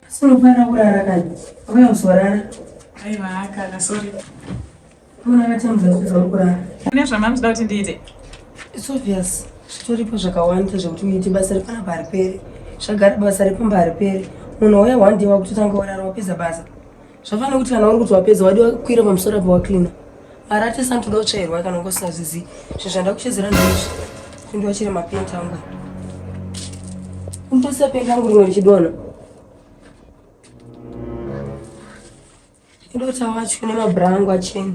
Sinofanira kurara kani. Uye usorara. Aiwa kana sorry. Muna vatamudza kuza kurara. Mune zvamamzida kuti ndiite. It's obvious. Zvitoripo zvakawanda zvekuti muite basa repana paripere. Zvagara basa repamba haripere. Munhu wauya one day wakutotanga kurara wapedza basa. zvafana kuti kana uri kuti wapedza wadi wakwira pamusoro apa waklina mari atesa ntoda kutsvairwa kana ngosazvizi zvinhu zvanda kuchedzera ndizvi kundi wachire mapenti angu kuntosisa penti angu rimwe richidona ndota wacho nemabhura angu achena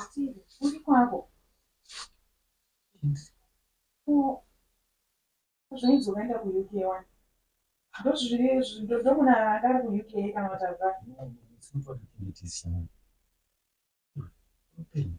Asiri, uri kwako. Ko zvaizoenda kuUK wani? Ndozviri ndomuna anga ari kuUK kana vatadza. Upenyu.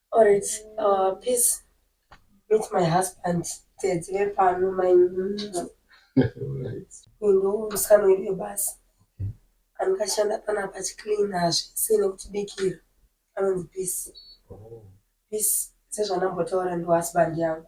Alright, uh, peace. Meet my husband. Tedzi vepano my ndo musikana wedu webasa andikashanda pana pachicleana zvese nekutibikira anonzi peace. Peace sezvandambotaura ndi husband yangu.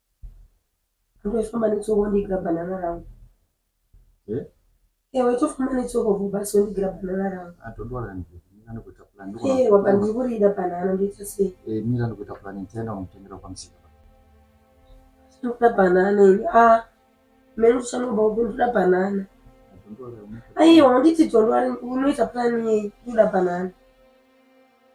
Ndofamba netsoko wondigira banana rangu. Eh? Ewe tofamba netsoko vhubhasi wondigira banana rangu. Ah, don't worry hanzi. Mira ndikuita plan. Eh, waba ndiri kurida banana ndoita sei? Eh, mira ndikuita plan nitaenda kumutengera kwamusika. Ndikuda banana ini. Ah, mene uchanoba upi ndikuda banana. Ah, don't worry. Aiwa, nditi don't worry. Unoita plan yei? Ndikuda banana.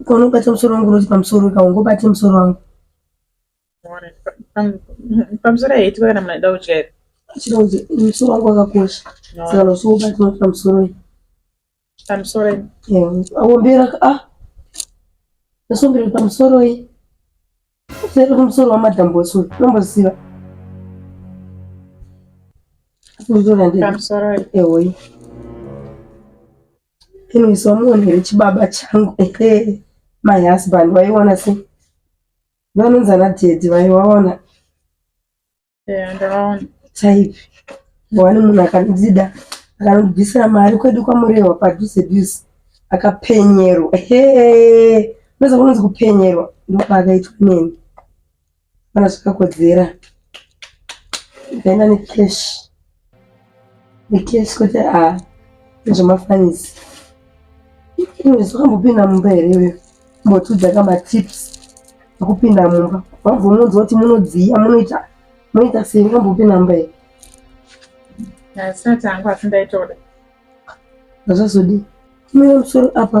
Ukaonobata musoro wangu unoti pamusoro weka ungobate musoro wangu pamusoro haiti kana munhu aida kutyaira achida kuti musoro wangu wakakosha saka usiubati unoti pamusoro weka pamusoro aombera a ah. ndasombera pamusoro i sere kumusoro wamadhambosi uyu unomboziva pamusoro ehoyi anyways wamuonere chibaba changu ehe my husband waiona se vanonzi ana dedi vaivaona eya ndakaona chaipi wani munhu akandidzida akanobvisira mari kwedu kwamurehwa padhuze dhuze akapenyerwa hee unoza kunonzi kupenyerwa ndopaakaitwa neni kana zvakakodzera ndaenda necash BTS kuti a zvemafanisi iwezi wakambopinda mumba here iwe mbotiudzaka matips ekupinda mumba wabvomudza kuti munodziya munoita munoita sei wakambopinda mumba here asati angu asi ndaitoda zvazodii kumira musoro apa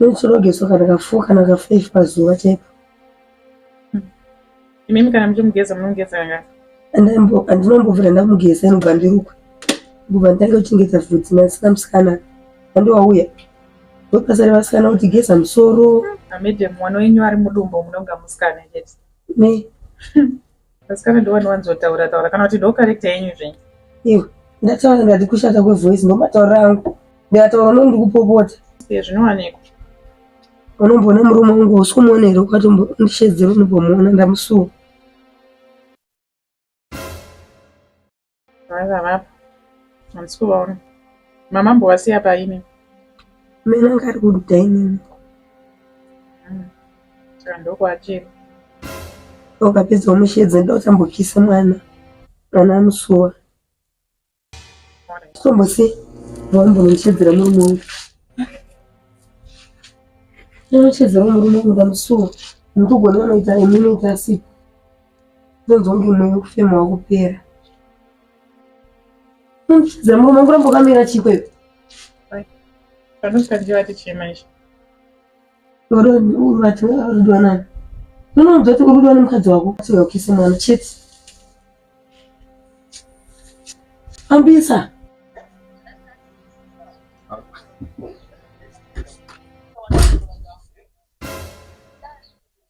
Rutsi rogezwa kana kafour kana kafive pazuva chaipo. Imimi kana muchimugeza munogeza kangani? Andinombovira ndamugeza inobva ndirukwe kubva nditange kuchengeta vhudzi nasina musikana andi wauya ndopasare vasikana kuti geza musoro. Madam mwana wenyu ari mudumbu munonga musikana chete. Ne. Vasikana ndovani vanzotaura taura kana kuti ndo character yenyu zvenyu. Iwe ndataura ndati kushata kwe voice ndo mataura angu. Ndataura uno ndikupopota. Iye zvinowanikwa. Unomboona murume wangu usikuona here ukati ndishedzere unombomuona ndamusuwa. Vaiva vapo. Handisi kuvaona. Mama mbovasiya paine. Mena ngari kududa inini. Hmm. Saka ndokwachiri. Ndokapedza umushedze ndotambokisa mwana. Mwana amusuwa. Tombosiya. Vambo muchedzera murume wangu. Muchedzera murume wangu ndamusuwa. Ndikugona vanoita imini ita sipo. Ndonzwa kuti mweya wekufema wakupera. Unopfidza mama mangu ramba wakamira chii kweyo? Panofanira vati chii manje? Vati rudo nani? Unonzwa kuti urudo nemukadzi wako uya ukise mwana chete. Ambisa.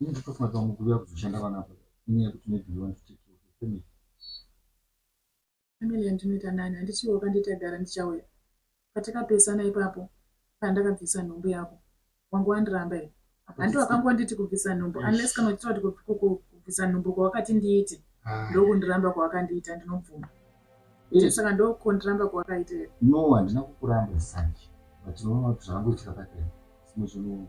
Ini nditofunga kuti vamwe kuuya kuzoshanda vana apa inyaya yekuti maybe you want to take care of your family. Family yandinoita nani handichiwo kandi tagara ndichauya. Patakapesana ipapo pandakabvisa nhumbu yako wangu wandiramba here? Handi wakangonditi kubvisa nhumbu unless kana uchitaura kuti kubvisa nhumbu kwawakati ndiite ndokundiramba kwawakandiita ndinobvuma. Eh. Saka ndokundiramba kwawakaita here? No, handina kukuramba sanje. But unoona kuti zvakangoitika pakati. Simwe zvinhu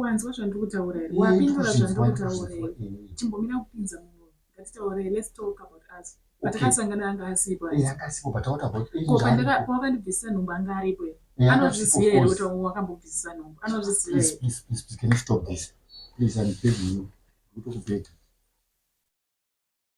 wanzwa zvandiri kutaura here wapindura zvandiri kutaura here chimbomira kupinza munhu ngatitaure let's talk about us patakasangana anga asipo pawakandibvisisa nhumbu anga aripo here anozviziva here kuti wakambobvisisa nhumbu anozviziva here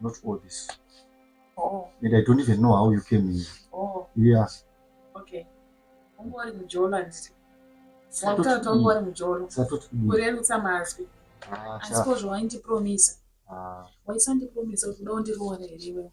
not all this oh. and i don't even know how you came here oh. yeah okay ungori mujolo anditi watoto ungori mujolo kurerutsa mazwi ah, asi ko zvawaindipromisa ah. waisandipromisa kuti uda undiroore here iwewe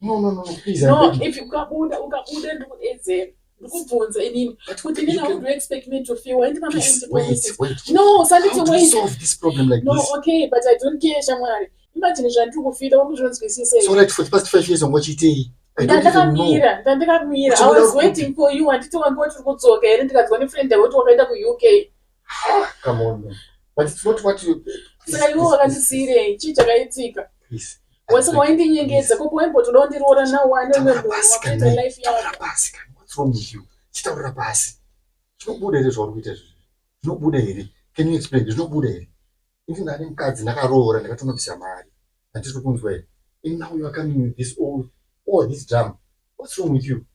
No, no, no, no, please. No, I'm if you kabuda, ukabuda ndikuedzera. Ndikubvunza inini kuti nina would you expect me to feel and mama please, and wait, wait. No, sanditi wait. How do you solve this problem like no, this? No, okay, but I don't care shamwari. Imagine zvandiri kufita uri kuzvinzwisisa here? So like for the past five years wangochiitei? Ndandakamira, ndandakamira. I was waiting for you anditi wange wati uri kudzoka here ndikanzwa nefriend yako kuti wakaenda kuUK. Ah, come on man. But it's not what you... Saka iwe wakandisiirei? Chii chakaitika? Please. Wese waindinyengedza kupo waimbotoda kundiroora now wane umwe munhu wakuita life yako. Taura pasi kani. What's wrong with you? Chitaura pasi. Zvinobuda here zvauri kuita izvi? Zvinobuda here? Can you explain? Zvinobuda here? Ini ndane mukadzi ndakaroora ndakatonobvisa mari. Handisi kunzwa here? And now you are coming with this all, all this drama. What's wrong with you?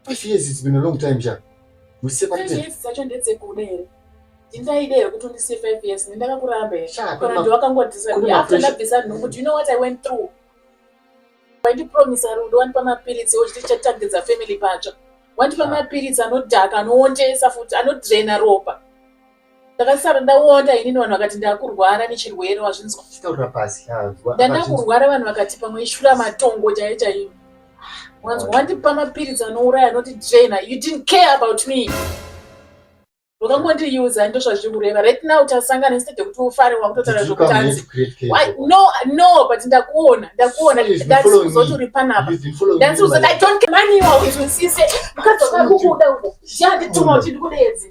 Five years it's been a long time sha. Musepate. Five years dzacho ndedzekuda here? Ndindaida here kuti undisiye five years? Ndakakuramba here? Sha, kune ma- Wakangotisa kune after mapresha- ndabvisa nhumbu. Do you know what I went through? Wandipromisa rudo, wandipa mapiritsi ochiti chatangidza family patsva. Wandipa Sha. mapiritsi anodhaka, anoondesa futi, anodraina ropa. ndakasara ndawonda inini vanhu vakati ndakurwara nechirwere wazvinzwa taura pasi ndandakurwara vanhu vakati pamwe ishura matongo chaiyo chaiyo wanzwa wandipa mapiritsi anouraya anoti draina you didn't care about me wakangondiuza ndo zvazviri kureva right now tasangana instead yekuti ufare wakutotaura zvekutanzi no no but ndakuona ndakuona ndazoti uri panapa ndazoti i don't care money wakuti usise mukadzi wakakukuda uko zhandituma uchindikudeedzi